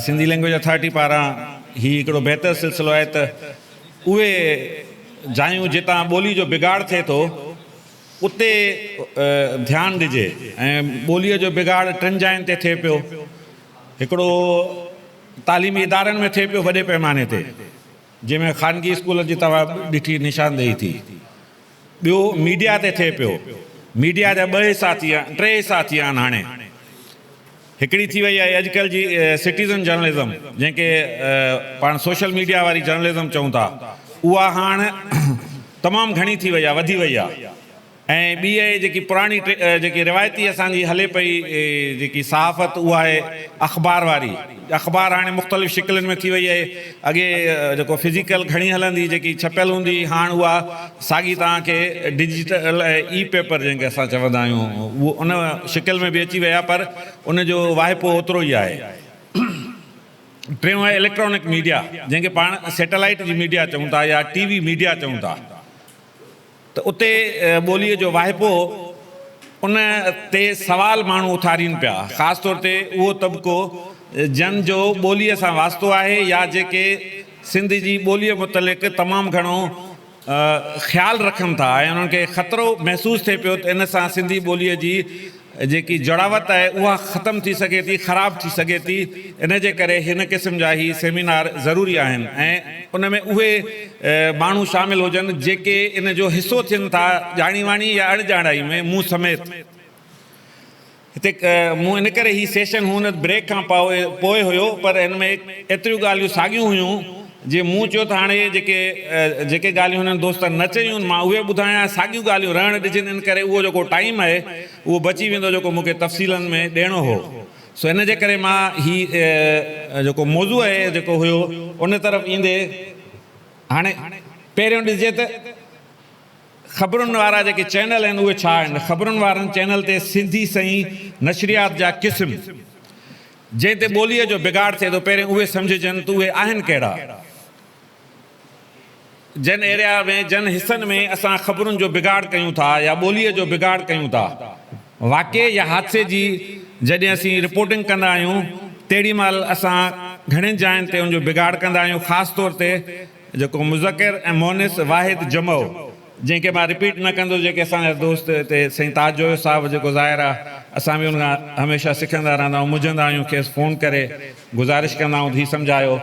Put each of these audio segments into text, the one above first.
Sindhi language authority پاران هي هڪڙو بهتر سلسلو آهي ته اهي جايون جتان ٻولي جو بگاڙ ٿئي ٿو اتي ڌيان ڏجي ۽ ٻوليء جو بگاڙ ٽن جاين تي ٿئي پيو هڪڙو تعليمي ادارن ۾ ٿئي پيو وڏي پئماني تي جنهن ۾ خانگي اسڪولن جي توهان ڏٺي نشاندهي ٿي ٻيو ميڊيا تي ٿئي پيو، ميڊيا جا ٻه حصا ٿي ويا ٽي حصا ٿي ويا آهن هاڻي، هڪڙي ٿي وئي آهي اڄڪلهه جي سٽيزن جرنلزم جنهن کي پاڻ سوشل ميڊيا واري جرنلزم چئون ٿا اها هاڻ تمام گهڻي ٿي وئي آهي وڌي وئي آهي ۽ ٻي اهي جيڪي پراڻي جيڪي روايتي اسان جي هلي پئي جيڪي صحافت اها آهي اخبار واري اخبار هاڻي مختلف شڪلين ۾ ٿي وئي آهي. اڳي جيڪو فزيڪل کڻي هلندي جيڪي ڇپيل هوندي هئي هاڻ اها ساڳي توهان کي ڊجيٽل اي پيپر جنهن کي اسان چوندا آهيون اهو ان شڪل ۾ به اچي ويا پر ان جو واهپو اوترو ئي آهي. ٽيون آهي اليڪٽرانڪ ميڊيا جنهن کي پاڻ سيٽلائيٽ جي ميڊيا چئون ٿا يا ٽي وي ميڊيا چئون ٿا. ته اتي ٻوليء جو واهپو ان تي سوال ماڻهو اٿارين پيا، خاص طور تي اهو طبقو جن جو ٻوليء سان واسطو آهي يا جيڪي سنڌ جي ٻوليء متعلق تمام گهڻو خيال رکن ٿا ۽ انهن کي خطرو محسوس ٿئي پيو ته ان سان سنڌي ٻوليء جي جيڪي جڙاوت آهي اها ختم ٿي سگهي ٿي، خراب ٿي سگهي ٿي، ان جي ڪري هن قسم جا هي سيمينار ضروري آهن ۽ ان ۾ اهي ماڻهو شامل هجن جيڪي ان جو حصو ٿين ٿا ڄاڻي واڻي يا اڻ ڄاڻائي ۾ مون سميت هتي مون ان ڪري هي سيشن هونئن ته بريڪ کان پوء هيو پر ان ۾ ايتريون ڳالهيون ساڳيون هيون جي مون چيو ته هاڻي جيڪي جيڪي ڳالهيون هنن دوستن نه چيون مان اهي ٻڌايان ۽ ساڳيون ڳالهيون رهڻ ڏجن ان ڪري اهو جيڪو ٽائيم آهي اهو بچي ويندو جيڪو مون کي تفصيلن ۾ ڏيڻو هو سو ان جي ڪري مان هي جيڪو موضوع آهي جيڪو هيو ان طرف ايندي هاڻي پهريون ڏسجي ته خبرن وارا جيڪي چينل آهن اهي ڇا آهن خبرن وارن چينل تي سنڌي سئي نشريات جا قسم جنهن تي ٻوليء جو بگاڙ ٿئي ٿو، پهرين اهي سمجهجن ته اهي آهن ڪهڙا؟ جن ايريا ۾ جن حصن ۾ اسان خبرن جو بگاڙ ڪيون ٿا يا ٻوليء جو بگاڙ ڪيون ٿا. واقعي يا حادثي جي جڏهن اسين رپورٽنگ ڪندا آهيون، تهڙي مهل اسان گهڻين جاين تي ان جو بگاڙ ڪندا آهيون، خاص طور تي جيڪو مذڪر ۽ مؤنث واحد جمع هو جنهن کي مان رپيٽ نه ڪندس جيڪي اسان جا دوست هتي سائين تاج جويو صاحب جيڪو ظاهر آ اسان به ان کان هميشه سکندا رهندا آهيون منجهندا آهيون کيس فون ڪري گذارش ڪندا آهيون ته هي سمجهايو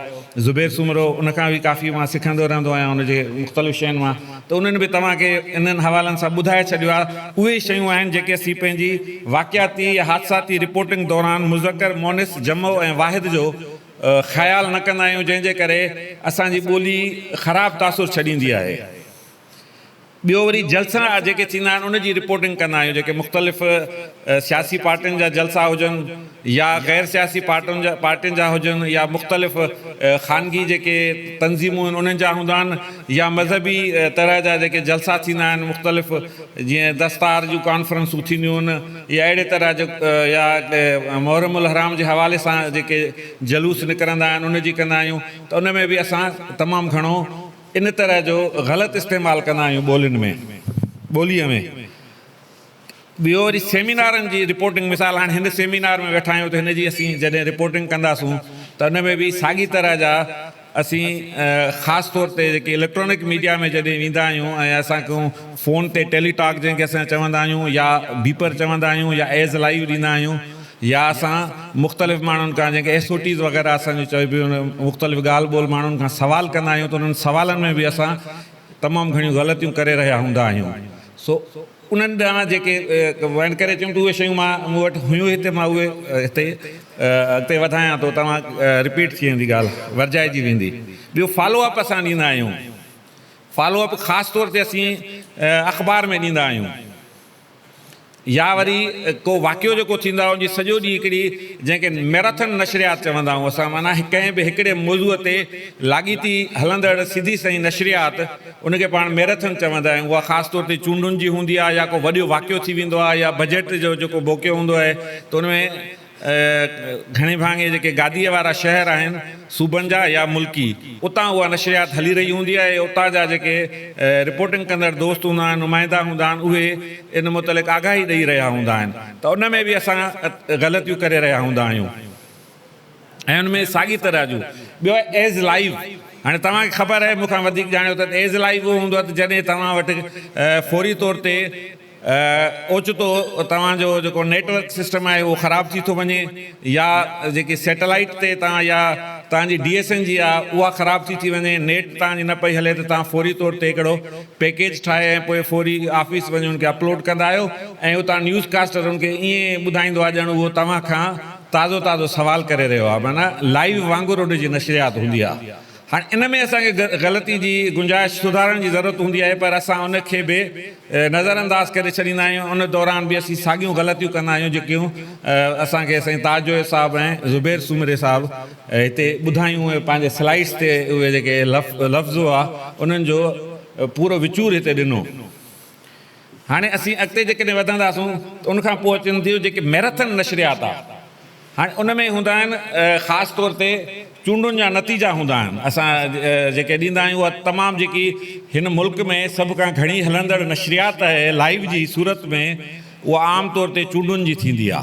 زبير سومرو ان کان به ڪافي مان سکندو رهندو آهيان ان جي مختلف شين مان ته انهن به توهان کي انهن حوالن سان ٻڌائي ڇڏيو آ اهي شيون آهن جيڪي اسين پنهنجي واقعاتي يا حادثاتي رپورٽنگ دوران مذڪر مؤنث جمع ۽ واحد جو خيال نه ڪندا آهيون جنهن جي ڪري اسان جي ٻولي خراب تاثر ڇڏيندي آهي ٻيو وري جلسا جيڪي ٿيندا آهن ان جي رپورٽنگ ڪندا آهيون جيڪي مختلف سياسي پارٽين جا جلسا هجن يا غير سياسي پارٽن جا پارٽين جا هجن يا مختلف خانگي جيڪي تنظيمون آهن انهن جا هوندا آهن يا مذهبي طرح جا جيڪي جلسا ٿيندا آهن مختلف جيئن دستار جون ڪانفرنسون ٿينديون هن يا اهڙي طرح جو يا محرم الحرام جي حوالي سان جيڪي جلوس نڪرندا آهن ان جي ڪندا آهيون ته ان ۾ به اسان تمام گهڻو ان طرح جو غلط استعمال ڪندا آهيون ٻولين ۾ ٻوليء ۾ ٻيو وري سيمينارن جي رپورٽنگ مثال هاڻي هن سيمينار ۾ ويٺا آهيون ته هن جي اسين جڏهن رپورٽنگ ڪنداسون ته ان ۾ به ساڳي طرح جا اسين خاص طور تي جيڪي اليڪٽرانڪ ميڊيا ۾ جڏهن ويندا آهيون ۽ اسان کان فون تي ٽيلي ٽاڪ جنهن کي اسان چوندا آهيون يا بيپر چوندا آهيون يا ايڊز لائيو ڏيندا آهيون يا اسان مختلف ماڻهن کان جنهن کي ايس او ٽيز وغيره اسان جون چئبيون مختلف ڳالهه ٻولهه ماڻهن کان سوال ڪندا آهيون ته انهن سوالن ۾ به اسان تمام گهڻيون غلطيون ڪري رهيا هوندا آهيون سو انهن ڏانهن جيڪي وينڊ ڪري اچيم ته اهي شيون مان مون وٽ هيون هتي مان اهي هتي اڳتي وڌايان ٿو توهان رپيٽ ٿي ويندي ڳالهه ورجائجي ويندي ٻيو فالو اپ اسان ڏيندا آهيون فالو اپ خاص طور تي اسين اخبار ۾ ڏيندا آهيون يا وري ڪو واقعو جيڪو ٿيندو آهي ان جي سڄو ڏينهن هڪڙي جنهن کي ميراٿن نشريات چوندا آهيون اسان معنيٰ ڪنهن به هڪڙي موضوع تي لاڳيتي هلندڙ سڌي سئي نشريات ان کي پاڻ ميرٿن چوندا آهيون. اها خاص طور تي چونڊن جي هوندي آهي يا ڪو وڏيو واقعو ٿي ويندو آهي يا بجيٽ جو جيڪو موقعو هوندو آهي ته ان ۾ گهڻي ڀاڱي جيڪي گاديء وارا شهر آهن صوبن جا يا ملڪي اتان اها نشريات هلي رهي هوندي آهي ۽ اتان جا جيڪي رپورٽنگ ڪندڙ دوست هوندا آهن نمائندا هوندا آهن اهي ان متعلق آگاهي ڏئي رهيا هوندا آهن ته ان ۾ به اسان غلطيون ڪري رهيا هوندا آهيون. ۽ ان ۾ ساڳي طرح جون ٻيو ايز لائيو هاڻي توهان کي خبر آهي مون کان وڌيڪ ڄاڻيو ته ايز لائيو اهو هوندو آهي ته جڏهن توهان وٽ فوري طور تي اوچتو توهان جو جيڪو نيٽ ورڪ سسٽم آهي اهو خراب ٿي ٿو وڃي يا جيڪي سيٽلائيٽ تي توهان يا توهان جي ڊي ايس اين جي آهي اها خراب ٿي ٿي وڃي نيٽ توهان جي نه پئي هلي ته توهان فوري طور تي هڪڙو پيڪيج ٺاهي ۽ پوء فوري آفيس وڃي ان کي اپلوڊ ڪندا آهيو ۽ اتان نيوز ڪاسٽر ان کي ائين ٻڌائيندو آهي ڄڻ اهو توهان کان تازو تازو سوال ڪري رهيو آهي معنيٰ لائيو وانگر ان جي نشريات هوندي آهي هاڻي ان ۾ اسان کي غلطي جي گنجائش سڌارڻ جي ضرورت هوندي آهي پر اسان ان کي به نظر انداز ڪري ڇڏيندا آهيون ان دوران به اسين ساڳيون غلطيون ڪندا آهيون جيڪيون اسان کي سائين تاج جويو صاحب ۽ زبير سومري صاحب هتي ٻڌايون اهي پنهنجي سلائيڊس تي اهي جيڪي لفظ هئا انهن جو پورو وچور هتي ڏنو. هاڻي اسين اڳتي جيڪڏهن وڌنداسون ته ان کان پوء اچن ٿيون جيڪي ميراٿن نشريات آ هاڻي ان ۾ هوندا آهن خاص طور تي چونڊن جا نتيجا هوندا آهن اسان جيڪي ڏيندا آهيون اها تمام جيڪي هن ملڪ ۾ سڀ کان گهڻي هلندڙ نشريات آهي لائيو جي صورت ۾ اها عام طور تي چونڊن جي ٿيندي آ.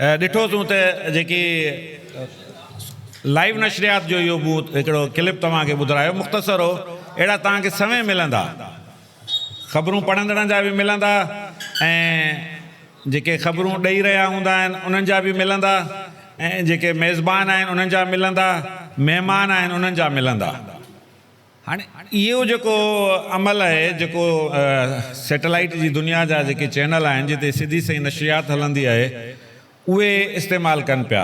ڏٺو تون ته جيڪي لائيو نشريات جو اهو مون هڪڙو ڪلپ توهان کي ٻڌرايو مختصر هو اهڙا توهان کي سوين ملندا خبرون پڙهندڙن جا به ملندا ۽ جيڪي خبرون ڏئي رهيا هوندا آهن انهن جا به ملندا ۽ جيڪي ميزبان آهن انهن جا ملندا مهمان آهن انهن جا ملندا. هاڻي اهو جيڪو عمل آهي جيڪو سيٽلائيٽ جي دنيا جا جيڪي چينل آهن جتي سڌي سئي نشريات هلندي آهي اهي استعمال ڪن پيا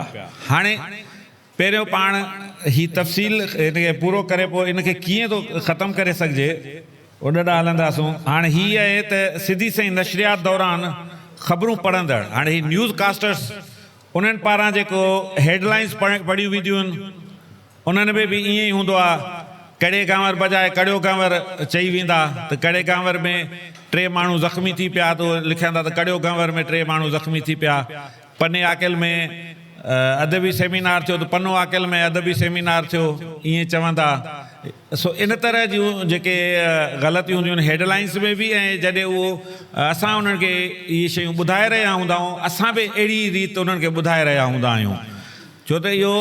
هاڻي پهريون پاڻ هي تفصيل ان کي پورو ڪري پوء ان کي ڪيئن ٿو ختم ڪري سگهجي ان ڏانهن هلنداسون هاڻي هي آهي ته سڌي سئي نشريات دوران خبرون پڙهندڙ هاڻي هي نيوز ڪاسٽرس انهن پاران جيڪو هيڊ لائنس پڙهيون وينديون آهن انهن ۾ به ائين ئي هوندو آ، ڪڙي ڪانور بجاء ڪڙيو ڪانور چئي ويندا ته ڪڙي ڪانور ۾ ٽي ماڻهو زخمي ٿي پيا ته اهي لکيندا ته ڪڙيو ڪانور ۾ ٽي ماڻهو زخمي ٿي پيا، پني عاقل ۾ ادبي سيمينار ٿيو ته پنو عاقل ۾ ادبي سيمينار ٿيو ائين چوندا سو ان طرح جون جيڪي غلطيون هونديون آهن هيڊ لائنس ۾ به ۽ جڏهن اهو اسان انهن کي اهي شيون ٻڌائي رهيا هوندا آهيون اسان به اهڙي ريت انهن کي ٻڌائي رهيا هوندا آهيون. ڇو ته اهو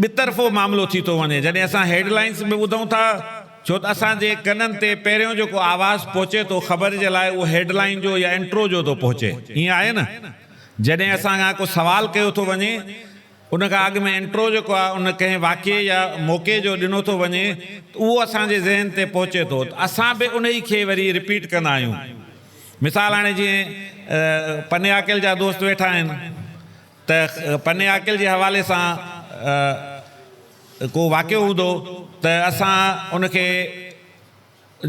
ٻه طرفو معاملو ٿي ٿو وڃي جڏهن اسان هيڊ لائنز به ٻڌون ٿا ڇو ته اسان جي ڪنن تي پهريون جيڪو آواز پهچي ٿو خبر جي لاء اهو هيڊ لائين جو يا انٽرو جو ٿو پهچي ائين آهي نه جڏهن اسان کان ڪو سوال ڪيو ٿو وڃي ان کان اڳ ۾ انٽرو جيڪو آهي ان ڪنهن واقعي يا موقعي جو ڏنو ٿو وڃي ته اهو اسان جي ذهن تي پهچي ٿو ته اسان به انهي کي وري رپيٽ ڪندا آهيون مثال هاڻي جيئن پني عاقل جا دوست ويٺا آهن ته پني عاقل جي حوالي سان ڪو واقعو هوندو ته اسان ان کي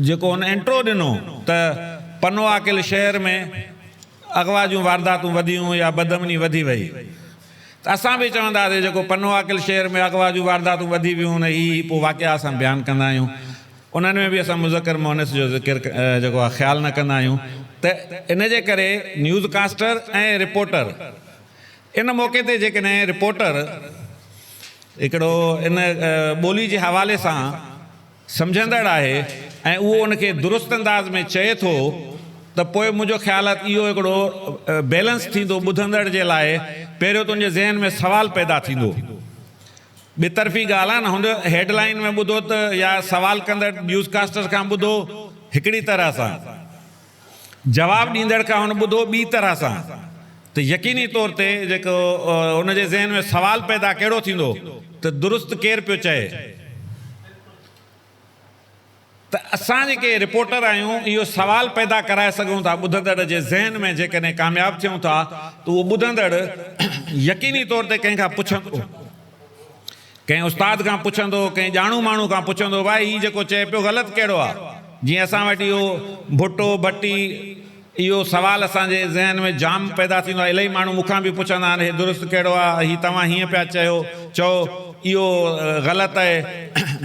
جيڪو هن انٽرو ڏنو ته پنو عاقل شهر ۾ اغوا جون وارداتون وڌيون يا بدامني وڌي وئي ته اسان به چونداسي جيڪو پنو عاقل شهر ۾ اغوا جون وارداتون وڌي ويون ته هي هي پوء واقعا اسان بيان ڪندا آهيون. انهن ۾ به اسان مذڪر مؤنث جو ذڪر جيڪو آهي خيال نه ڪندا آهيون ته ان جي ڪري نيوز ڪاسٽر ۽ رپورٽر ان موقعي تي جيڪڏهن رپورٽر هڪڙو ان ٻولي جي حوالي سان سمجهندڙ آهي ۽ اهو ان کي درست انداز ۾ چئي ٿو ته پوء منهنجو خيال آهي ته اهو هڪڙو بيلنس ٿيندو ٻڌندڙ جي لاء پهريون ته ان جي ذهن ۾ سوال پيدا ٿيندو ٻي طرفي ڳالهه آهي نه هن هيڊ لائين ۾ ٻڌو ته يا سوال ڪندڙ نيوز ڪاسٽر کان ٻڌو هڪڙي طرح سان جواب ڏيندڙ کان هن ٻڌو ٻي طرح سان ته يقيني طور تي جيڪو ان جي ذهن ۾ سوال پيدا ڪهڙو ٿيندو ته درست ڪير پيو چئي. ته اسان جيڪي رپورٽر آهيون اهو سوال پيدا ڪرائي سگهون ٿا ٻڌندڙ جي ذهن ۾ جيڪڏهن ڪامياب ٿيون ٿا ته اهو ٻڌندڙ يقيني طور تي ڪنهن کان پڇندو ڪنهن استاد کان پڇندو ڪنهن ڄاڻو ماڻهو کان پڇندو ڀائي هي جيڪو چئي پيو غلط ڪهڙو آهي جيئن اسان وٽ اهو ڀٽو ڀٽي اهو سوال اسان جي ذهن ۾ جام پيدا ٿيندو آهي. الائي ماڻهو مون کان به پڇندا آهن، هي درست ڪهڙو آهي؟ هي توهان هيئن پيا چيو، چئو، اهو غلط اهي.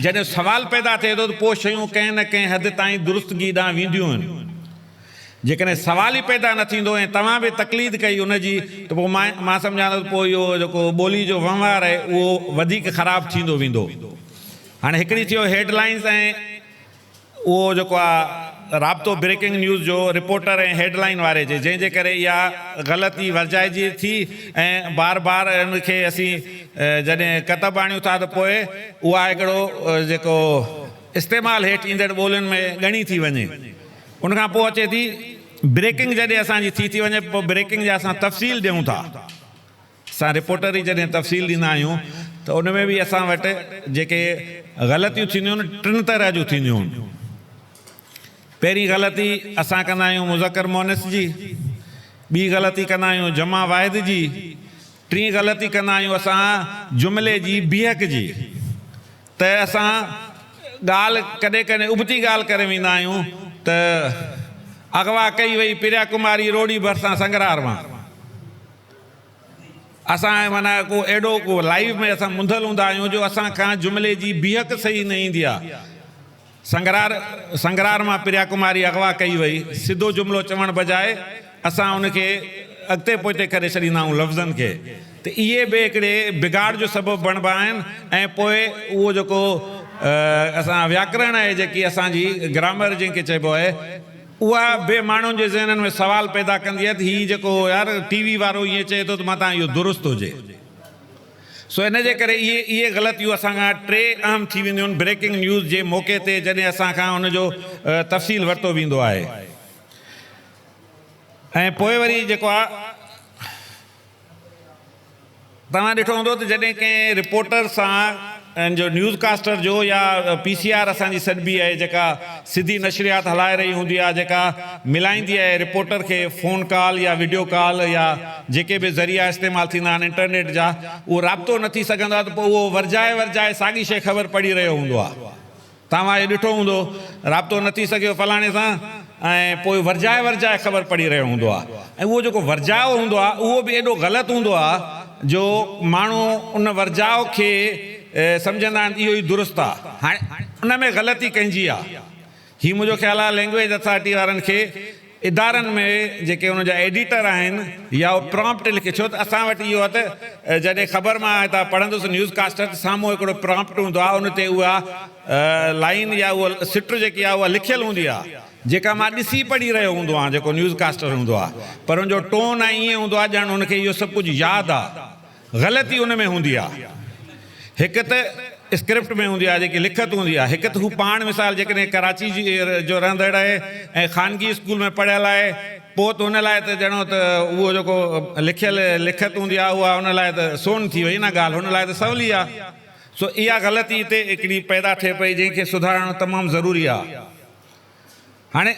جڏهن سوال پيدا ٿئي ٿو ته پوء شيون ڪنهن نه ڪنهن حد تائين درستگي ڏانهن وينديون آهن. جيڪڏهن سوال ئي پيدا نه ٿيندو ۽ توهان به تقليد ڪئي ان جي ته پوء مان سمجهان ٿو ته پوء اهو جيڪو ٻولي جو وهنوار اهي اهو وڌيڪ خراب ٿيندو ويندو. هاڻي هڪڙي ٿيو هيڊ لائنز ۽. اهو جيڪو آ رابطو بريڪنگ نيوز جو رپورٽر ۽ هيڊ لائين واري جي جنهن جي ڪري اها غلط ئي ورجائجي ٿي ۽ بار بار ان کي اسين جڏهن ڪتب آڻيون ٿا ته پوء اها هڪڙو جيڪو استعمال هيٺ ايندڙ ٻولين ۾ ڳڻي ٿي وڃي ان کان پوء اچي ٿي بريڪنگ جڏهن اسان جي ٿي ٿي وڃي پوء بريڪنگ جا اسان تفصيل ڏيون ٿا. اسان رپورٽر ئي جڏهن تفصيل ڏيندا آهيون ته ان ۾ به اسان وٽ جيڪي غلطيون ٿينديون آهن ٽن طرح جون ٿينديون آهن. پهرين غلطي اسان ڪندا آهيون مذڪر مؤنث جي، ٻي غلطي ڪندا آهيون جمع واحد جي، ٽين غلطي ڪندا آهيون اسان جملي جي بيهڪ جي ته اسان ڳالهه ڪڏهن ڪڏهن ابتي ڳالهه ڪري ويندا آهيون ته اغوا ڪئي وئي پريا ڪماري روڙي ڀرسان سنگرار مان. اسان معنيٰ ڪو اهڙو ڪو لائيو ۾ اسان منڌل هوندا آهيون جو اسان کان جملي جي بيهڪ صحيح نه ايندي آ. سنگرار سنگرار مان پريا ڪماري اغوا ڪئي وئي. سڌو جملو چوڻ بجاء اسان ان کي اڳتي پوئتي ڪري ڇڏيندا آهيون لفظن کي ته اهي به هڪڙي بگاڙ جو سبب بڻبا آهن ۽ پوء اهو جيڪو اسان وياڪرڻ آهي جيڪي اسان جي گرامر جنهن کي چئبو آهي اها به ماڻهن جي ذهنن ۾ سوال پيدا ڪندي آهي ته هي جيڪو يار ٽي وي وارو ائين چئي ٿو ته مان تان اهو درست هجي. سو ان جي ڪري اهي اهي غلطيون اسان کان ٽي اهم ٿي وينديون آهن بريڪنگ نيوز جي موقعي تي جڏهن اسان کان ان جو تفصيل ورتو ويندو آهي ۽ پوء وري جيڪو آهي توهان ڏٺو هوندو ته جڏهن ڪنهن رپورٽر سان جو نيوز ڪاسٽر جو يا پي سي آر اسان جي سڏبي آهي جيڪا سڌي نشريات هلائي رهي هوندي آهي جيڪا ملائيندي آهي رپورٽر کي فون ڪال يا وڊيو ڪال يا جيڪي به ذريعا استعمال ٿيندا آهن انٽرنيٽ جا اهو رابطو نه ٿي سگهندو آهي ته پوء اهو ورجائي ورجائي ساڳي شيء خبر پڙهي رهيو هوندو آهي. توهان اهو ڏٺو هوندو رابطو نه ٿي سگهيو فلاڻي سان ۽ پوء ورجائي ورجائي خبر پڙهي رهيو هوندو آهي ۽ اهو جيڪو ورجاء هوندو آهي اهو به ايڏو غلط هوندو آهي جو ماڻهو ان ورجاء کي سمجهندا آهن اهو ئي درست آهي هاڻي ان ۾ غلطي ڪنهن جي آهي هي منهنجو خيال آهي لينگويج اٿارٽي وارن کي ادارن ۾ جيڪي ان جا ايڊيٽر آهن يا اهي پرامپٽ لکي ڇو ته اسان وٽ اهو آهي ته جڏهن خبر مان هتان پڙهندس نيوز ڪاسٽر ته سامهون هڪڙو پرامپٽ هوندو آهي ان تي اها لائين يا اها سٽر جيڪي آهي اها لکيل هوندي آهي جيڪا مان ڏسي پڙهي رهيو هوندو آهيان جيڪو نيوز ڪاسٽر هوندو آهي پر ان جو ٽون ائين هوندو آهي ڄڻ ان کي اهو سڀ ڪجهه ياد آهي غلطي ان ۾ هوندي آهي. هڪ ته اسڪرپٽ ۾ هوندي آهي، جيڪي لکت هوندي آهي، هڪ ته هو پاڻ مثال جيڪڏهن ڪراچي جو رهندڙ آهي ۽ خانگي اسڪول ۾ پڙهيل آهي پوء ته هن لاء ته ڄڻو ته اهو جيڪو لکيل لکت هوندي آهي اها هن لاء ته سون ٿي وئي نه ڳالهه هن لاء ته سولي آهي سو اها غلطي هتي هڪڙي پيدا ٿئي پئي جنهن کي سڌارڻ تمام ضروري آهي. هاڻي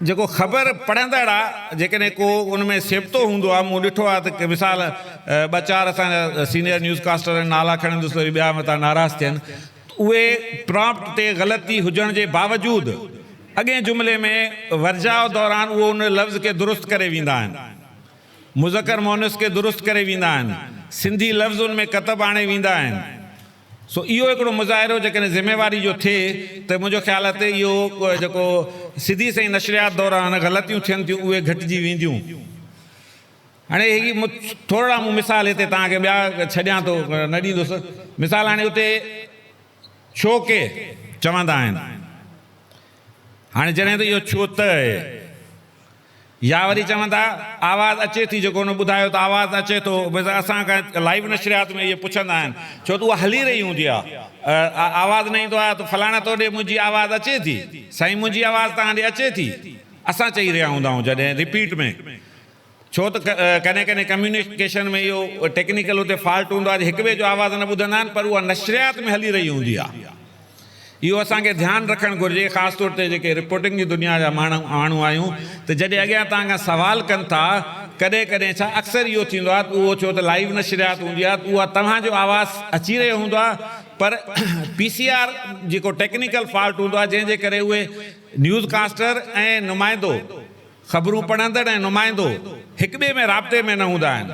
جيڪو خبر پڙهندڙ آ جيڪڏهن ڪو ان ۾ سيبتو هوندو آ مون ڏٺو آ ته مثال ٻه چار اسان جا سينيئر نيوز ڪاسٽر آهن نالا کڻندس ته وري ٻيا متان ناراض ٿين ته اهي پرامپٽ تي غلطي هجڻ جي باوجود اڳئين جملي ۾ ورجاء دوران اهو ان لفظ کي درست ڪري ويندا آهن مذڪر مؤنث کي درست ڪري ويندا آهن سنڌي لفظ ان ۾ ڪتب آڻي ويندا آهن سو اهو هڪڙو مظاهرو جيڪڏهن ذميواري جو ٿئي ته منهنجو خيال آهي ته اهو جيڪو سڌي سنئين نشريات دوران غلطيون ٿين ٿيون اهي گهٽجي وينديون. هاڻي هي ٿورڙا مون مثال هتي توهان کي ٻيا ڇڏيان ٿو نه ڏيندس مثال هاڻي اتي ڇو ڪي چوندا آهن هاڻي جڏهن ته اهو ڇو ته اهي. يا وري چون ٿا آواز اچي ٿي جو ڪونه ٻڌايو ته آواز اچي ٿو بس اسان کان لائيو نشريات ۾ اهي پڇندا آهن ڇو ته اها هلي رهي هوندي آهي آواز نه ايندو آهي ته فلاڻي تو ڏي منهنجي آواز اچي ٿي سائين منهنجي آواز توهان ڏي اچي ٿي اسان چئي رهيا هوندا آهيون جڏهن رپيٽ ۾ ڇو ته ڪڏهن ڪڏهن ڪميونيڪيشن ۾ اهو ٽيڪنيڪل اتي فالٽ هوندو آهي جو هڪ ٻئي جو آواز نه ٻڌندا آهن پر اها نشريات ۾ هلي رهي هوندي آهي. اهو اسان کي ڌيان رکڻ گهرجي خاص طور تي جيڪي رپورٽنگ جي دنيا جا ماڻهو آهيون ته جڏهن اڳيان توهان کان سوال ڪن ٿا ڪڏهن ڪڏهن ڇا اڪثر اهو ٿيندو آهي ته اهو ڇو ته لائيو نشريات هوندي آهي ته اها توهان جو آواز اچي رهيو هوندو آهي پر پي سي آر جيڪو ٽيڪنيڪل فالٽ هوندو آهي جنهن جي ڪري اهي نيوز ڪاسٽر ۽ نمائندو خبرون پڙهندڙ ۽ نمائندو هڪٻئي ۾ رابطي ۾ نه هوندا آهن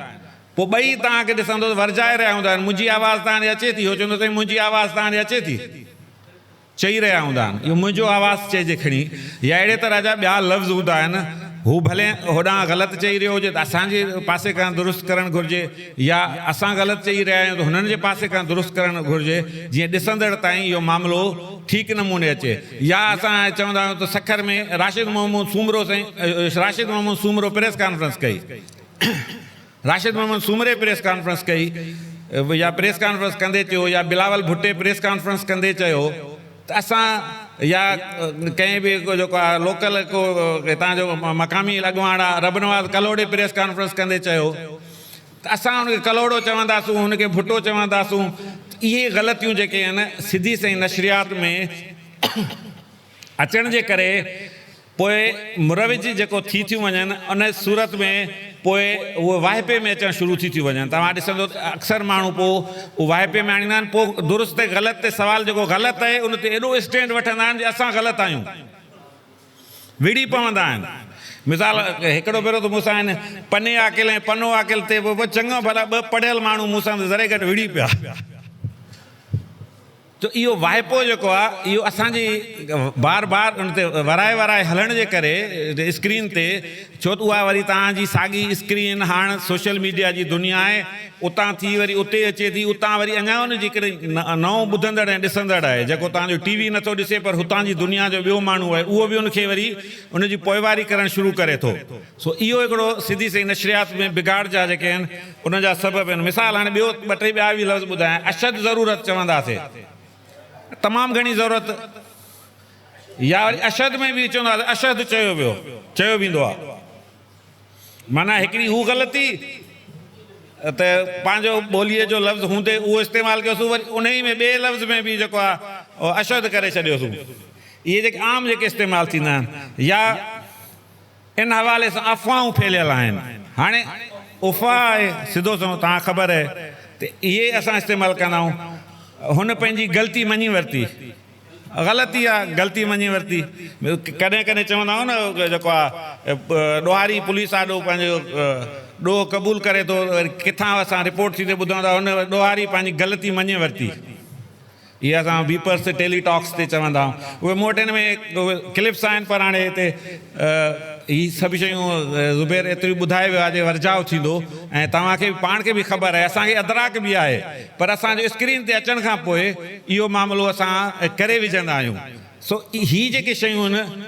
پوء ٻئي توهان کي ڏسندو ته ورجائي رهيا هوندا آهن، منهنجي آواز توهان ڏي اچي ٿي؟ هو چوندو سائين منهنجي آواز توهان ڏي اچي ٿي؟ چئي رهيا هوندا آهن اهو منهنجو آواز چئجي کڻي يا اهڙي طرح جا ٻيا لفظ هوندا آهن، هو ڀلي هوڏانهن غلط چئي رهيو هجي ته اسان جي پاسي کان درست ڪرڻ گهرجي يا اسان غلط چئي رهيا آهيون ته هنن جي پاسي کان درست ڪرڻ گهرجي جيئن ڏسندڙ تائين اهو معاملو ٺيڪ نموني اچي يا اسان چوندا آهيون ته سکر ۾ راشد محمود سومرو سائين راشد محمود سومرو پريس ڪانفرنس ڪئي. راشد محمد سومري پريس ڪانفرنس ڪئي يا پريس ڪانفرنس ڪندي چيو يا بلاول ڀٽي پريس ڪانفرنس ڪندي چيو ته اسان يا ڪنهن به جيڪو آ لوڪل ڪو هتان جو مقامي اڳواڻ آ رب نواز ڪلهوڙي پريس ڪانفرنس ڪندي چيو ته اسان ان کي ڪلهوڙو چونداسون ان کي ڀٽو چونداسون اهي غلطيون جيڪي آهن سڌي سئي نشريات ۾ اچڻ جي ڪري پوء مروج جيڪو ٿي ٿيون وڃن ان صورت ۾ پوء اهي واهپي ۾ اچڻ شروع ٿي ٿيون وڃن توهان ڏسندو ته اڪثر ماڻهو پوء اهو واهپي ۾ آڻيندا آهن پوء درست ۽ غلط تي سوال جيڪو غلط آهي ان تي ايڏو اسٽينڊ وٺندا آهن جي اسان غلط آهيون وڙهي پوندا آهن مثال هڪڙو ڀيرو ته مون سان هن پني عاقل ۽ پنو عاقل تي به چڱا ڀلا ٻه پڙهيل ماڻهو مون سان ذري گهٽ وڙهي پيا. جو اهو واهپو جيڪو آهي اهو اسان جي بار بار ان تي ورائي ورائي هلڻ جي ڪري اسڪرين تي ڇو ته اها وري توهان جي ساڳي اسڪرين هاڻ سوشل ميڊيا جي دنيا آهي اتان ٿي وري اتي اچي ٿي اتان وري اڃا ان جي ڪري نئون ٻڌندڙ ۽ ڏسندڙ آهي جيڪو توهان جو ٽي وي نٿو ڏسي پر هتان جي دنيا جو ٻيو ماڻهو آهي اهو به ان کي وري ان جي پوئواري ڪرڻ شروع ڪري ٿو. سو اهو هڪڙو سڌي سئي نشريات ۾ بگاڙ جا جيڪي آهن ان جا سبب آهن مثال هاڻي ٻيو ٻه ٽي ٻيا به لفظ ٻڌايان اشد ضرورت چونداسي تمام گهڻي ضرورت يا وري اشد ۾ به چونداسي اشهد چيو ويو چيو ويندو آهي معنيٰ هڪڙي هو غلطي ته پنهنجو ٻوليء جو لفظ هوندي اهو استعمال ڪيوسون وري انهي ۾ ٻئي لفظ ۾ به جيڪو آهي اشهد ڪري ڇڏيوسون اهي جيڪي عام جيڪي استعمال ٿيندا آهن يا ان حوالي سان افواهون ڦهليل آهن. هاڻي افواهه آهي سڌو سنئون توهان کي خبر آهي ته اهي اسان استعمال ڪندا آهيون. هن پنهنجي غلطي مڃي ورتي. غلطي آهي غلطي مڃي ورتي. ڪڏهن ڪڏهن چوندا آهيون نه اهو جيڪو آهي ڏوهاري پوليس آڏو پنهنجو ڏوهه قبول ڪري ٿو وري ڪٿان اسان رپورٽ ٿي ته ٻڌون ٿا هن ڏوهاري پنهنجي غلطي مڃي ورتي. اهي اسان ويپرس تي ٽيلي ٽاڪس تي چوندا آهيون اهي مون وٽ هن ۾ ڪلپس آهن پر هاڻي هتي هي سڀ شيون زبير ايتريون ٻڌائي ويو آهي جي ورجاء ٿيندو ۽ توهان کي به پاڻ کي به خبر آهي اسان کي ادراڪ به آهي پر اسان جو اسڪرين تي اچڻ کان پوء اهو معاملو اسان ڪري وجهندا آهيون سو هي جيڪي شيون هن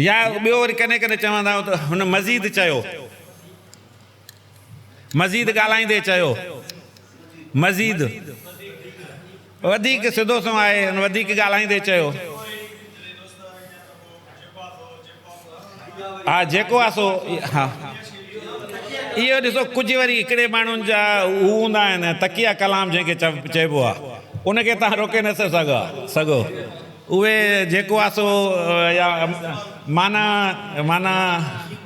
يا ٻيو وري ڪڏهن ڪڏهن چوندا آهيون ته هن مزيد چيو. مزيد ڳالهائيندي چيو. مزيد وڌيڪ سڌو سنئون آهي. هن وڌيڪ ڳالهائيندي چيو. ها جيڪو آ سو ها. اهو ڏسو ڪجهه وري هڪڙي ماڻهن جا هو هوندا آهن تقيه ڪلام جنهن کي چئبو آ ان کي توهان روڪي نه ٿا سگهو. اهي جيڪو آهي سو يا معنيٰ معنيٰ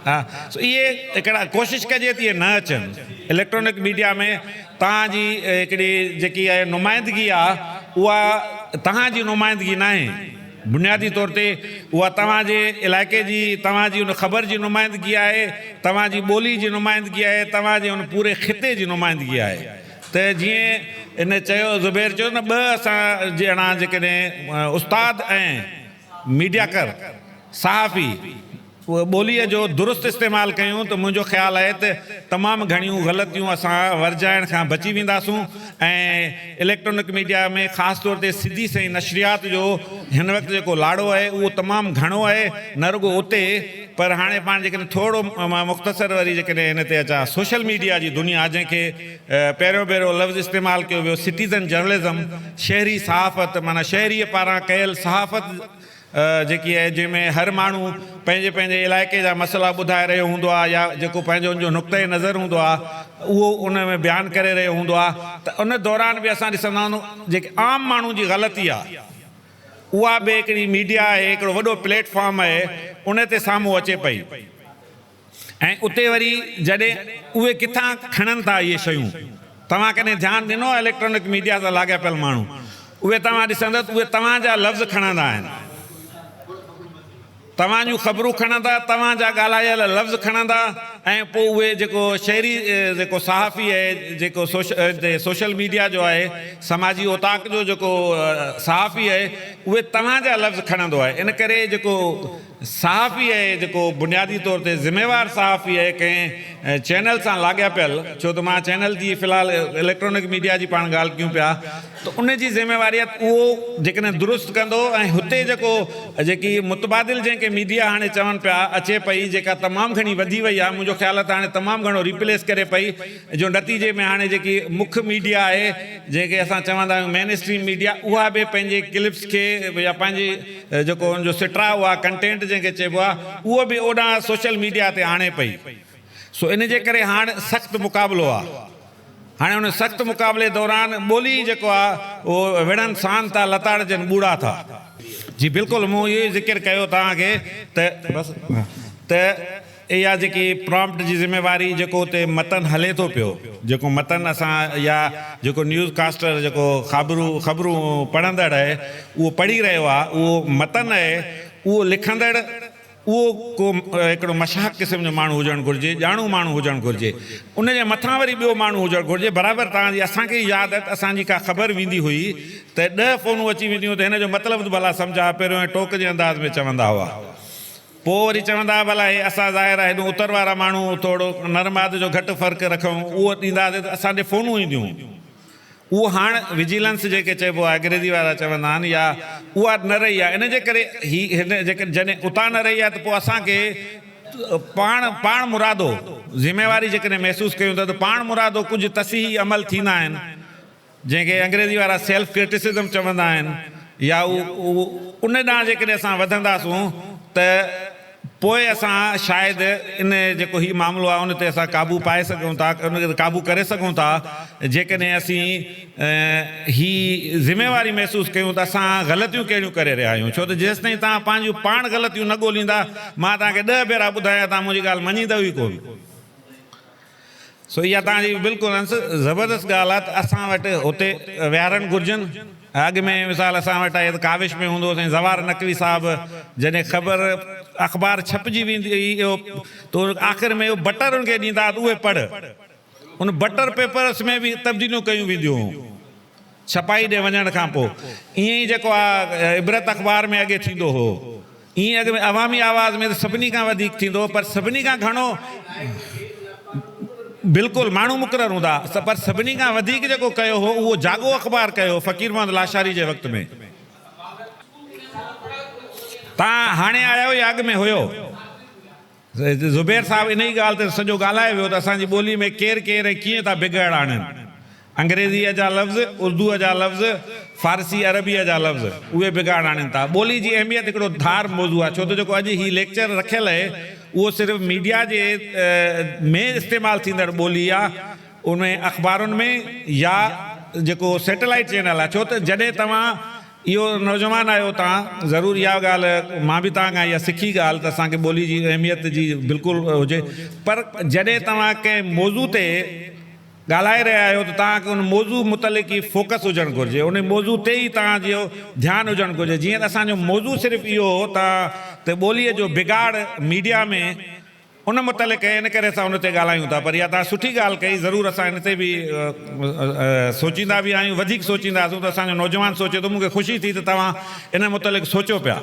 آهي سو اهي هڪڙا ڪوشش ڪجي تي اهي نه اچن اليڪٽرانڪ ميڊيا ۾ توهان جي هڪڙي جيڪي اهي نمائندگي آهي اها توهان جي نمائندگي ناهي بنيادي طور تي اها توهان جي علائقي جي توهان جي ان خبر جي نمائندگي آهي توهان جي ٻولي جي نمائندگي آهي توهان جي ان پوري خطي جي نمائندگي آهي ته جيئن ان چيو زبير چيو نه ٻه اسان جهڙا جيڪڏهن استاد ۽ ميڊياڪر، صحافي، ٻوليء جو درست استعمال ڪيون ته منهنجو خيال آهي ته تمام گهڻيون غلطيون اسان ورجائڻ کان بچي وينداسون ۽ اليڪٽرانڪ ميڊيا ۾ خاص طور تي سڌي سنئين نشريات جو هن وقت جيڪو لاڙو آهي اهو تمام گهڻو آهي نه رڳو اتي پر هاڻي پاڻ جيڪڏهن ٿورو مان مختصر وري جيڪڏهن هن تي اچان سوشل ميڊيا جي دنيا جنهن کي پهريون ڀيرو لفظ استعمال ڪيو ويو سٽيزن جرنلزم شهري صحافت معنيٰ شهريء پاران ڪيل صحافت جيڪي آهي جنهن ۾ هر ماڻهو پنهنجي پنهنجي علائقي جا مسئلا ٻڌائي رهيو هوندو آهي يا جيڪو پنهنجو ان جو نقطه نظر هوندو آهي اهو ان ۾ بيان ڪري رهيو هوندو آهي ته ان دوران به اسان ڏسندا هوندو جيڪي عام ماڻهو جي غلطي آهي اها به هڪڙي ميڊيا آهي، هڪڙو وڏو پليٽ فارم آهي، ان تي سامهون اچي پئي ۽ اتي وري جڏهن اهي ڪٿان کڻن ٿا اهي شيون، توهان ڪڏهن ڌيان ڏنو آهي اليڪٽرانڪ ميڊيا سان لاڳاپيل ماڻهو اهي توهان ڏسندس اهي توهان جا لفظ کڻندا آهن. توهان جون خبرون کڻندا، توهان جا ڳالهايل لفظ کڻندا ۽ پوء اهي جيڪو شهري جيڪو صحافي آهي جيڪو سوشل ميڊيا جو آهي سماجي اوطاق جو جيڪو صحافي آهي اهي توهان جا لفظ کڻندو آهي ان ڪري جيڪو صحافي آهي جيڪو بنيادي طور تي ذميوار صحافي آهي ڪنهن چينل سان لاڳاپيل ڇو ته مان چينل جي في الحال اليڪٽرانڪ ميڊيا جي پاڻ ڳالهه ڪيون پيا ته ان جي ذميواريت اهو جيڪڏهن درست ڪندو ۽ هتي جيڪو جيڪي متبادل جنهن کي ميڊيا هاڻي چون پيا اچي پئي جيڪا تمام گهڻي وڌي وئي آهي منهنجو خيال آهي ته هاڻي تمام گهڻو ريپليس ڪري پئي جو نتيجي ۾ هاڻي جيڪي مک ميڊيا آهي جنهن کي اسان چوندا آهيون مين اسٽريم ميڊيا اها به پنهنجي ڪلپس کي يا پنهنجي جيڪو ان جو سٽراء اها ڪنٽينٽ جنهن کي چئبو آهي اهو به اوڏانهن سوشل ميڊيا تي آڻي پئي سو ان جي ڪري هاڻ سخت مقابلو آهي. هاڻي ان سخت مقابلي دوران ٻولي ئي جيڪو آ اهو وڙهن سان ٿا لتاڙجن ٻوڙا ٿا. جي بلڪل مون اهو ئي ذڪر ڪيو توهان کي ته بس ته اها جيڪي پرامپٽ جي ذميواري جيڪو اتي متن هلي ٿو پيو جيڪو متن اسان يا جيڪو نيوز ڪاسٽر جيڪو خابرو خبرون پڙهندڙ اهي اهو پڙهي رهيو آ اهو متن اهي اهو لکندڙ اهو ڪو هڪڙو مشاهڪ قسم جو ماڻهو هجڻ گهرجي، ڄاڻو ماڻهو هجڻ گهرجي. ان جي مٿان وري ٻيو ماڻهو هجڻ گهرجي. برابر توهان جي اسان کي ئي ياد آهي ته اسان جي ڪا خبر ويندي هئي ته ڏهه فونون اچي وينديون هيون ته هن جو مطلب ته ڀلا سمجهاء پهريون ائين ٽوڪ جي انداز ۾ چوندا هئا. پوء وري چوندا هئا ڀلا هي اسان ظاهر آهي هيڏو اتر وارا ماڻهو ٿورڙو نر ماد جو گهٽ فرق رکون اهو ڏينداسين ته اسان ڏي فونون اينديون. اهو هاڻ وجيلنس جنهن کي چئبو آهي اگريزي وارا چوندا آهن يا اها نه رهي آهي ان جي ڪري هي هن جيڪڏهن جڏهن اتان نه رهي آهي ته پوء اسان کي پاڻ پاڻ مرادو ذميواري جيڪڏهن محسوس ڪيون ٿا ته پاڻ مرادو ڪجهه تصحيحي عمل ٿيندا آهن جنهن کي انگريزي وارا سيلف ڪرٽيسزم چوندا آهن يا اهو ان ڏانهن جيڪڏهن اسان وڌنداسون ته پوء اسان شايد ان جيڪو هي معاملو آهي ان تي اسان قابو پائي سگهون ٿا، ان تي قابو ڪري سگهون ٿا، جيڪڏهن اسين هي ذميواري محسوس ڪيون ته اسان غلطيون ڪهڙيون ڪري رهيا آهيون، ڇو ته جيستائين توهان پنهنجيون پاڻ غلطيون نه ڳوليندا، مان توهان کي ڏهه ڀيرا ٻڌايا توهان منهنجي ڳالهه مڃيندؤ ئي ڪونه. سو اها توهان جي بلڪل انس زبردست ڳالهه آهي ته اسان وٽ هتي ويهارڻ گهرجن. اڳ ۾ مثال اسان وٽ آهي ته ڪاوش ۾ هوندو هو سائين زوار نقوي صاحب جڏهن خبر اخبار ڇپجي ويندي هئي اهو تو آخر ۾ اهو بٽر ان کي ڏيندا ها ته اهي پڙهه. ان بٽر پيپرس ۾ به تبديليون ڪيون وينديون هيون. ڇپائي ڏي وڃڻ کان پوء ائين ئي جيڪو آ عبرت اخبار ۾ اڳي ٿيندو هو ائين اڳ ۾ عوامي آواز ۾ ته سڀني کان وڌيڪ ٿيندو هو پر سڀني کان گهڻو بلڪل ماڻهو مقرر هوندا ها پر سڀني کان وڌيڪ جيڪو ڪيو هو اهو جاڳو اخبار ڪيو هو فقير محمد لاشاري جي وقت ۾ توهان هاڻي آيا آهيو يا اڳ ۾ هيو؟ زبير صاحب انهيء ڳالهه تي سڄو ڳالهائي ويو ته اسان جي ٻوليء ۾ ڪير ڪير ۽ ڪيئن ٿا بگهڙ آڻين. انگريزيء جا لفظ، اردوء جا لفظ، فارسي عربيء جا لفظ، اهي بگهڙ آڻين ٿا. ٻوليء جي اهميت هڪڙو ڌار موضوع آهي، ڇو ته جيڪو اڄ هي ليڪچر رکيل اهي، اهو صرف ميڊيا جي ۾ استعمال ٿيندڙ ٻولي آ، ان ۾ اخبارن ۾ يا جيڪو سيٽلائيٽ چينل آهي، ڇو ته جڏهن توهان اهو نوجوان آهي اتان آ ضرور اها ڳالهه مان به توهان کان اها سکي ڳالهه ته اسان کي ٻولي جي اهميت جي بلڪل هجي پر جڏهن توهان ڪنهن موضوع تي ڳالهائي رهيا آهيو ته توهان کي ان موضوع متعلق ئي فوڪس هجڻ گهرجي ان موضوع تي ئي توهان جو ڌيان هجڻ گهرجي جيئن ته اسان جو موضوع صرف اهو هو ته ته ٻولي جو بگاڙ ميڊيا ۾ ان متعلق ان ڪري اسان ان تي ڳالهايون ٿا پر اها توهان سٺي ڳالهه ڪئي ضرور اسان ان تي به سوچيندا به آهيون وڌيڪ سوچينداسون ته اسان جو نوجوان سوچي ٿو مون کي خوشي ٿي ته توهان ان متعلق سوچيو پيا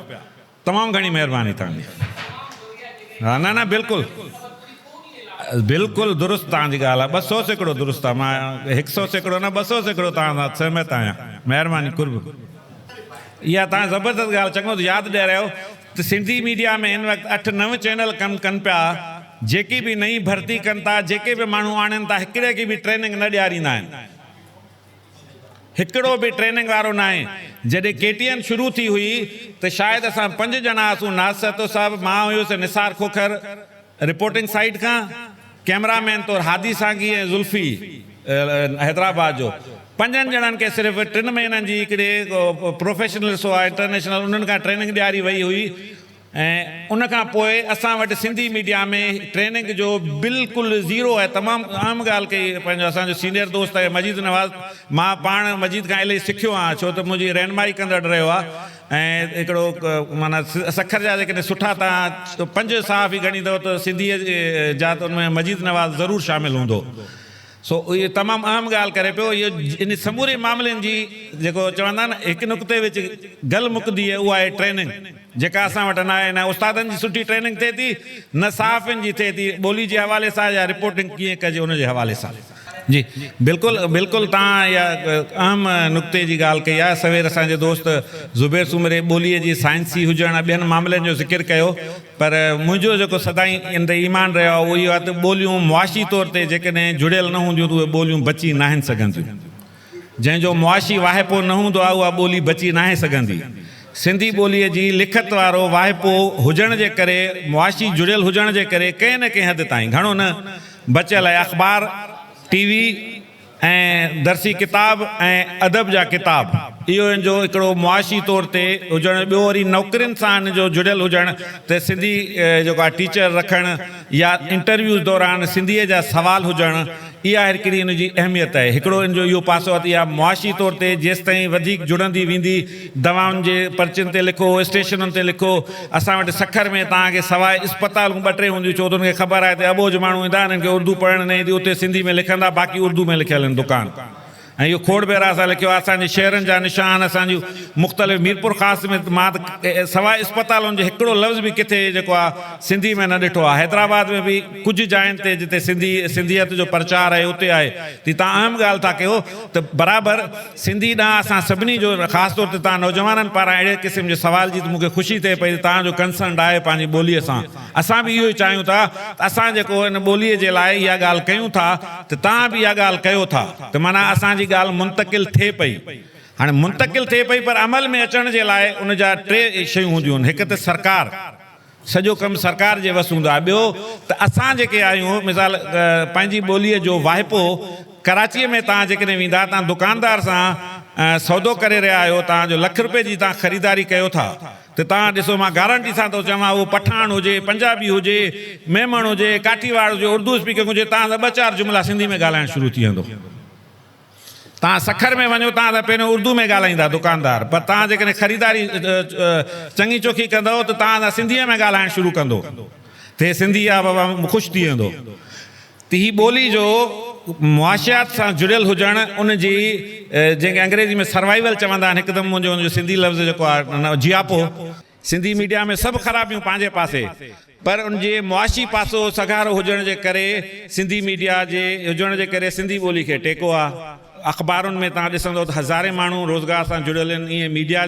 تمام گهڻي مهرباني توهان جي ها نه نه بلڪل بلڪل درست توهان جي ڳالهه آهي ٻه سو سيڪڙو درست آهي مان هڪ سو سيڪڙو نه ٻه سو سيڪڙو توهان سان سهمت آهيان مهرباني قرب اها توهان زبردست ڳالهه چڱو ٿيو ياد ڏيارايو ته سنڌي ميڊيا ۾ هن وقت اٺ نو چينل ڪم ڪن پيا جيڪي به نئين ڀرتي ڪن ٿا جيڪي به ماڻهو آڻين ٿا هڪڙي کي به ٽريننگ نه ڏياريندا آهن هڪڙو به ٽريننگ وارو ناهي جڏهن ڪي ٽي اين شروع ٿي هئي ته شايد اسان پنج ڄڻا هئاسون ناز سهتو صاحب مان هيس نثار کوکر رپورٽنگ سائيٽ کان ڪئميرا مين طور هادي سانگي ۽ ذلفي حيدرآباد جو پنجن ڄڻن کي صرف ٽن مهينن جي هڪڙي پروفيشنل سوا انٽرنيشنل انهن کان ٽريننگ ڏياري وئي هئي ۽ ان کان پوء اسان وٽ سنڌي ميڊيا ۾ ٽريننگ جو بلڪل زيرو آهي تمام اهم ڳالهه ڪئي پنهنجو اسان جو سينيئر دوست آهي مجيد نواز مان پاڻ مجيد کان الائي سکيو آهيان ڇو ته منهنجي رهنمائي ڪندڙ رهيو آهي ۽ هڪڙو معنيٰ سکر جا جيڪڏهن سٺا تان پنج صحافي ڳڻيندؤ ته سنڌيء جا ته ان ۾ مجيد نواز ضرور شامل هوندو سو اهو تمام اهم ڳالهه ڪري پيو اهو ان سموري معاملن جي جيڪو چوندا آهن نه هڪ نقطي وچ گل مڪندي اهو آهي ٽريننگ جيڪا اسان وٽ ناهي نه استادن جي سٺي ٽريننگ ٿئي ٿي نه صحافين جي ٿئي ٿي ٻولي جي حوالي سان يا رپورٽنگ ڪيئن ڪجي ان جي حوالي سان. جي بلڪل بلڪل توهان اها اهم نقطي جي ڳالهه ڪئي آهي سوير اسان جي دوست زبير سومري ٻولي جي سائنسي هجڻ ۽ ٻين معاملن جو ذڪر ڪيو پر منهنجو جيڪو سدائين ان تي ايمان رهيو آهي اهو اهو آهي ته ٻوليون معاشي طور تي جيڪڏهن جڙيل نه هونديون ته اهي ٻوليون بچي ناهن سگهنديون جنهن جو معاشي واهپو نه هوندو آهي اها ٻولي بچي ناهي سگهندي. سنڌي ٻوليء جي لکت وارو واهپو هجڻ جي ڪري، معاشي جڙيل هجڻ جي ڪري ڪنهن نه ڪنهن حد تائين، گهڻو نه، بچيل آهي. اخبار، ٽي وي ۽ درسي ڪتاب ۽ ادب جا ڪتاب، اهو هن جو هڪڙو معاشي طور تي هجڻ، ٻيو وري نوڪرين سان هن جو جڙيل هجڻ ته سنڌي جيڪو آهي ٽيچر رکڻ يا انٽرويوز دوران سنڌيء جا سوال هجڻ، اها آهر ڪري ان جي اهميت آهي. هڪڙو ان جو اهو پاسو آهي ته اها معاشي طور تي جيستائين وڌيڪ جڙندي ويندي. دوائن جي پرچين تي لکو، اسٽيشنن تي لکو. اسان وٽ سکر ۾ توهان کي سواء اسپتالون ٻه ٽي هونديون ڇو ته ان کي خبر آهي ته اٻوجهه ماڻهو ايندا، انهن کي اردو پڙهڻ نه ايندي، اتي سنڌي ۾ لکندا، باقي اردو ۾ لکيل آهن دڪان. ۽ اهو کوڙ ڀيرا اسان لکيو آهي اسان جي شهرن جا نشان اسان جون مختلف ميرپورخاص ۾ مان ته سواء اسپتالن جي هڪڙو لفظ به ڪٿي جيڪو آهي سنڌي ۾ نه ڏٺو آهي حيدرآباد ۾ به ڪجهه جاين تي جتي سنڌي سنڌيت جو پرچار آهي اتي آهي تي تان اهم ڳالهه ٿا ڪيو ته برابر سنڌي ڏانهن اسان سڀني جو خاص طور تي تان نوجوانن پاران اهڙي قسم جي سوال جي ته مون کي خوشي ٿئي پئي ته تان جو ڪنسرنڊ آهي پنهنجي ٻولي سان اسان به اهو ئي چاهيون ٿا ته اسان جيڪو ان ٻوليء جي لاء اها ڳالهه ڪيون ٿا ته توهان به اها ڳالهه ڪيو ٿا ته معنيٰ اسان جي ڳالهه منتقل ٿئي پئي. هاڻي منتقل ٿئي پئي پر عمل ۾ اچڻ جي لاء ان جا ٽي شيون هونديون آهن هڪ ته سرڪار سڄو ڪم سرڪار جي وس هوندو آهي ٻيو ته اسان جيڪي آهيون مثال پنهنجي ٻوليء جو واهپو ڪراچيء ۾ توهان جيڪڏهن ويندا توهان دڪاندار سان سودو ڪري رهيا آهيو توهان جو لک روپيه جي توهان خريداري ڪيو ٿا ته توهان ڏسو مان گارنٽي سان ٿو چوان اهو پٺاڻ هجي، پنجابي هجي، ميمڻ هجي، ڪاٺيواڙ هجي، اردو اسپيڪنگ هجي توهان سان ٻه چار جملا سنڌي ۾ ڳالهائڻ شروع ٿي ويندو. توهان سکر ۾ وڃو توهان سان پهريون اردو ۾ ڳالهائيندا دڪاندار پر توهان جيڪڏهن خريداري چڱي چوکي ڪندؤ ته توهان سان سنڌيء ۾ ڳالهائڻ شروع ڪندو. ٿي سنڌي آب هوا ۾ خوش ٿي ويندو ته هي ٻولي جو معاشيات سان جڙيل هجڻ ان جي جنهن کي انگريزي ۾ سروائيول چوندا آهن هڪدم منهنجو ان جو سنڌي لفظ جيڪو آهي جياپو. سنڌي ميڊيا ۾ سڀ خرابيون پنهنجي پاسي پر ان جي معاشي پاسو سگهارو هجڻ جي ڪري سنڌي ميڊيا جي هجڻ جي ڪري سنڌي ٻولي کي ٽيڪو آهي. اخبارن ۾ توهان ڏسندؤ ته هزارين ماڻهو روزگار سان جڙيل آهن ائين ميڊيا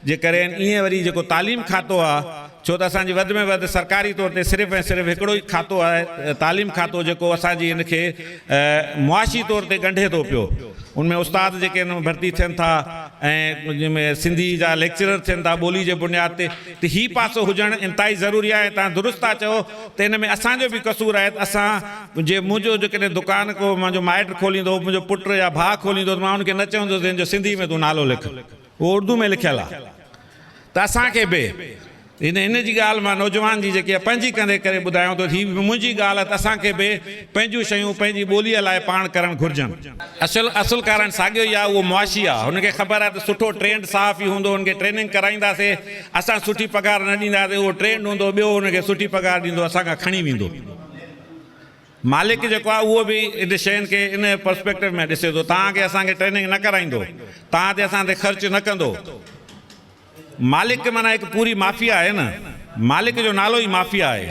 جي ڪري آهن ائين وري جيڪو تعليم کاتو آهي ڇو ته اسان جي وڌ ۾ وڌ سرڪاري طور تي صرف ۽ صرف هڪڙو ئي کاتو آهي تعليم کاتو جيڪو اسان جي ان کي معاشي طور تي ڳنڍي ٿو پيو ان ۾ استاد جيڪي ان ۾ ڀرتي ٿين ٿا ۽ سنڌي جا ليڪچرر ٿين ٿا ٻولي جي بنياد تي ته هي پاسو هجڻ انتهائي ضروري آهي ۽ توهان درست ٿا چئو ته ان ۾ اسان جو به قصور آهي ته اسان جي منهنجو جيڪڏهن دڪان ڪو منهنجو مائٽ کوليندو هو منهنجو پٽ يا ڀاء کوليندو هو ته مان ان کي نه چوندس ته هن جو سنڌي ۾ تون نالو لک اهو اردو ۾ لکيل آهي ته اسان کي به هن هن جي ڳالهه مان نوجوان جي جيڪي پنهنجي ڪندي ڪري ٻڌايائون ته هي به منهنجي ڳالهه آهي ته اسان کي به پنهنجون شيون پنهنجي ٻوليء لاء پاڻ ڪرڻ گهرجن. اصل اصل ڪارڻ ساڳيو ئي آ اهو معاشي آ هن کي خبر آ ته سٺو ٽرينڊ صحافي هوندو هن کي ٽريننگ ڪرائينداسي اسان سٺي پگهار نه ڏينداسي اهو ٽرينڊ هوندو ٻيو هن کي سٺي پگهار ڏيندو اسان کان کڻي ويندو مالڪ جيڪو آ اهو به ان شين کي ان پرسپيڪٽو ۾ ڏسي ٿو توهان کي اسان کي ٽريننگ نه ڪرائيندو توهان تي اسان تي خرچ نه ڪندو. مالڪ معنيٰ هڪ پوري مافيا آهي نه. مالڪ جو نالو ئي مافيا آهي.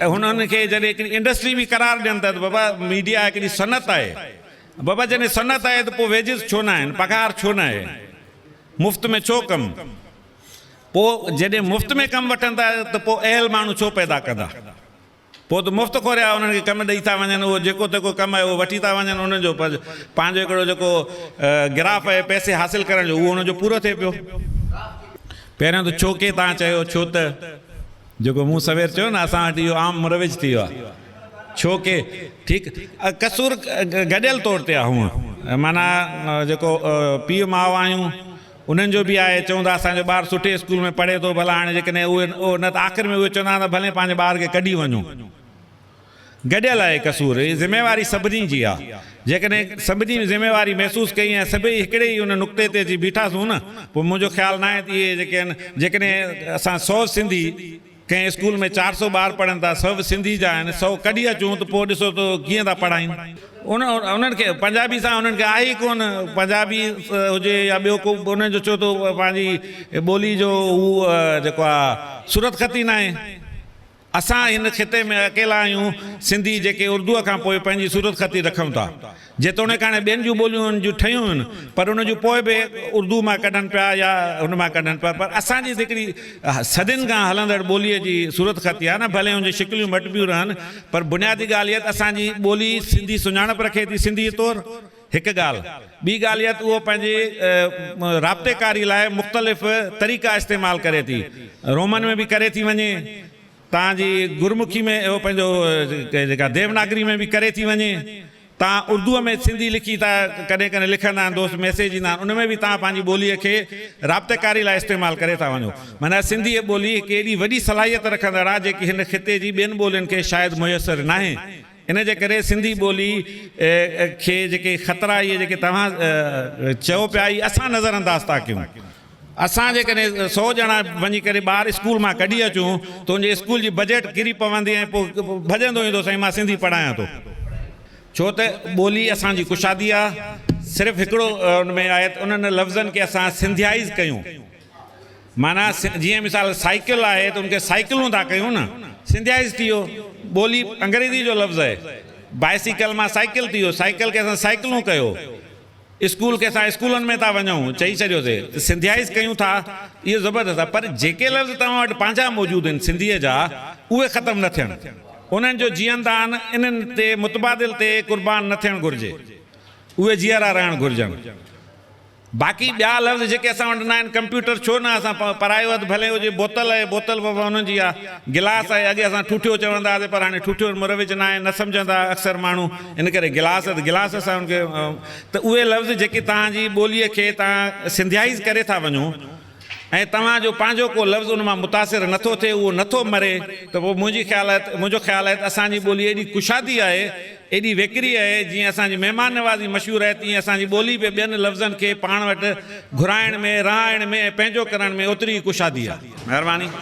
هن ان کي جڏهن هڪڙي انڊسٽري به قرار ڏين ٿا ته بابا ميڊيا هڪڙي صنعت آهي. بابا جڏهن صنعت آهي ته پوء ويجز ڇو نه آهن؟ پگهار ڇو نه آهي؟ مفت ۾ ڇو ڪم؟ پوء جڏهن مفت ۾ ڪم وٺن ٿا ته پوء اهل ماڻهو ڇو پيدا ڪندا؟ پوء ته مفت کوريا انهن کي ڪم ڏئي ٿا وڃن، اهو جيڪو تيڪو ڪم اهي وٺي ٿا وڃن، انهن جو پنهنجو هڪڙو جيڪو گراف اهي پئسي حاصل ڪرڻ جو اهو انهن جو پورو ٿئي پيو. پهريون ته ڇوڪي تان چيو ڇو ته جيڪو مون سوير چيو نه اسان وٽ اهو عام مروج ٿي ويو آهي ڇوڪي ٺيڪ قصور گڏيل طور تي آهي هونء معنيٰ جيڪو پيء ماء آهيون انهن جو به آهي، چون ٿا اسان جو ٻار سٺي اسڪول ۾ پڙهي ٿو، ڀلا هاڻي جيڪڏهن اهي اهو نه ته آخر ۾ اهي چوندا آهن ته ڀلين پنهنجي ٻار کي ڪڍي وڃو. گڏيل آهي قصور، هي ذميواري سڀني جي آهي. جيڪڏهن سڀني ذميواري محسوس ڪئي ۽ سڀئي هڪڙي ئي ان نقطي تي اچي بيٺاسون نه، پوء منهنجو خيال ناهي ته اهي جيڪي آهن جيڪڏهن اسان سو سنڌي، ڪنهن اسڪول ۾ چار سؤ ٻار پڙهن ٿا، سو به سنڌي جا آهن، سو ڪڍي اچون ته پوء ڏسو ته ڪيئن ٿا پڙهائين. انهن کي پنجابي سان انهن کي آهي ئي ڪونه، پنجابي هجي يا ٻيو ڪو به انهن جو ڇو ٿو پنهنجي ٻولي جو هو جيڪو آ صورتخط ئي ناهي. اسان هن خطي ۾ اڪيلا آهيون سنڌي جيڪي اردوء کان پوء پنهنجي صورتخط ئي رکون ٿا. جيتوڻيڪ هاڻي ٻين جون ٻوليون ان جون ٺهيون هيون پر ان جون پوء به اردوء مان ڪڍن پيا يا ان مان ڪڍن پيا پر اسان جي هڪڙي صدين کان هلندڙ ٻوليء جي صورت خط اها نه ڀلي ان جون شڪليون مٽبيون رهن پر بنيادي ڳالهه اها ته اسان جي ٻولي سنڌي سڃاڻپ رکي ٿي سنڌيء طور هڪ ڳالهه. ٻي ڳالهه اها ته اهو پنهنجي رابطيڪاري لاء مختلف طريقا استعمال ڪري ٿي رومن ۾ به ڪري ٿي وڃي. تان جي گرمکي ۾ اهو پنهنجو جيڪا ديوناگري ۾ به ڪري ٿي وڃي. تان اردوء ۾ سنڌي لکي ٿا ڪڏهن ڪڏهن لکندا آهن دوست ميسيج ايندا آهن ان ۾ به تان پنهنجي ٻوليء کي رابطيڪاري لاء استعمال ڪري ٿا وڃو. معنيٰ سنڌيء ٻولي هڪ ايڏي وڏي صلاحيت رکندڙ آهي جيڪي هن خطي جي ٻين ٻولين کي شايد ميسر ناهي. ان جي ڪري سنڌي ٻولي کي جيڪي خطرا اهي جيڪي توهان چئو پيا اهي اسان نظر انداز ٿا ڪيون. اسان جيڪڏهن سؤ ڄڻا وڃي ڪري ٻار اسڪول مان ڪڍي اچون ته ان جي اسڪول جي بجيٽ ڪري پوندي ۽ پوء ڀڄندو ايندو سائين مان سنڌي پڙهايان ٿو. ڇو ته ٻولي اسان جي ڪشادي آ. صرف هڪڙو ان ۾ آهي ته انهن لفظن کي اسان سنڌيائيز ڪيون. معنيٰ جيئن مثال سائيڪل آهي ته ان کي سائيڪلون ٿا ڪيون نه. سنڌيائيزڊ اهو ٻولي انگريزي جو لفظ آهي. بائيسيڪل مان سائيڪل ٿي ويو، سائيڪل کي اسان سائيڪلون ڪيو. اسڪول کي اسان اسڪولن ۾ ٿا وڃون چئي ڇڏيوسي ته سنڌيائيز ڪيون ٿا اهو زبردست آهي پر جيڪي لفظ توهان وٽ پنهنجا موجود آهن سنڌيء جا اهي ختم نه ٿين. انهن جو جيئندان انهن تي متبادل تي قربان نه ٿيڻ گهرجي. اهي جيئرا رهڻ گهرجن. باقي ٻيا لفظ جيڪي اسان وٽ ناهن، ڪمپيوٽر ڇو نه اسان پرايو اڌ ڀلي هجي، بوتل اهي بوتل به انهن جي آ، گلاس اهي، اڳي اسان ٺوٺيو چوندا هئاسين پر هاڻي ٺوٺيو وٽ مروج ناهي، نه سمجهندا اڪثر ماڻهو، ان ڪري گلاس اڌ گلاس اسان ان کي ته اهي لفظ جيڪي توهان جي ٻوليء کي توهان سنڌيائيز ڪري ٿا وڃو، ۽ توهان جو پنهنجو ڪو لفظ ان مان متاثر نه ٿو ٿئي، اهو نه ٿو مري، ته پوء منهنجي خيال آهي ته، منهنجو خيال آهي ته اسان جي ٻولي ايڏي ڪشادي آهي، ايڏي ويڪري آهي، جيئن اسان جي مهمان نوازي مشهور آهي، تيئن اسان جي ٻولي به ٻين لفظن کي پاڻ وٽ گهرائڻ ۾، رهائڻ ۾، ۽ پنهنجو ڪرڻ ۾ اوتري ئي ڪشادي آهي. مهرباني.